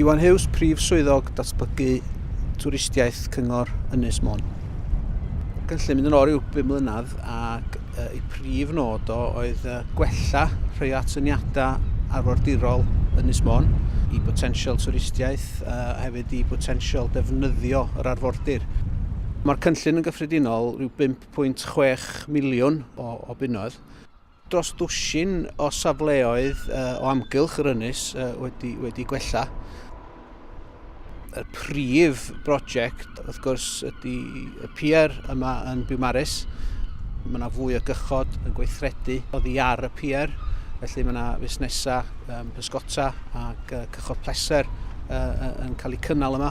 Iwan Hughes, Prif Swyddog Datblygu Twristiaeth Cyngor Ynys Môn. Gynllun mynd yn ôl rhyw 5 mlynedd ac yy y prif nod o oedd yy gwella rhai atyniadau arfordirol Ynys Môn i botensial twristiaeth a hefyd i botensial defnyddio yr arfordir. Mae'r cynllun yn gyffredinol rhyw 5.6 miliwn o, o bunnoedd. Dros ddwsin o safleoedd uh, o amgylch yr ynys uh, wedi, wedi gwella. y prif brosiect, wrth gwrs, ydy y pier yma yn Biwmaris. Mae yna fwy o gychod yn gweithredu oddi ar y pier, felly mae yna fusnesau um, pysgota ac uh, cychod pleser uh, yn cael eu cynnal yma.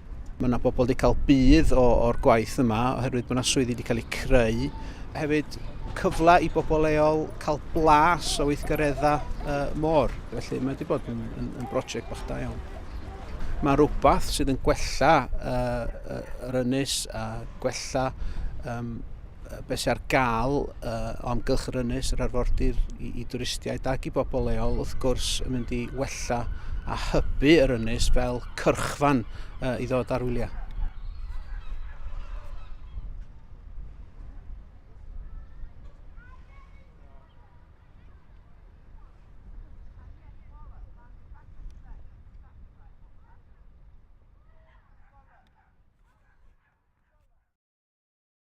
Mae yna bobl wedi cael budd o'r gwaith yma oherwydd bod yna swyddi wedi cael eu creu. Hefyd cyfle i bobl leol cael blas o weithgareddau uh, môr. Felly mae wedi bod yn, yn, yn brosiect bach da iawn. Mae rhywbeth sydd yn gwella uh, yr ynys a gwella um, be sy ar gael uh, o amgylch yr ynys, yr arfordir i, i dwristiaid ac i bobl leol, wrth gwrs, yn mynd i wella a hybu yr ynys fel cyrchfan uh, i ddod ar wyliau.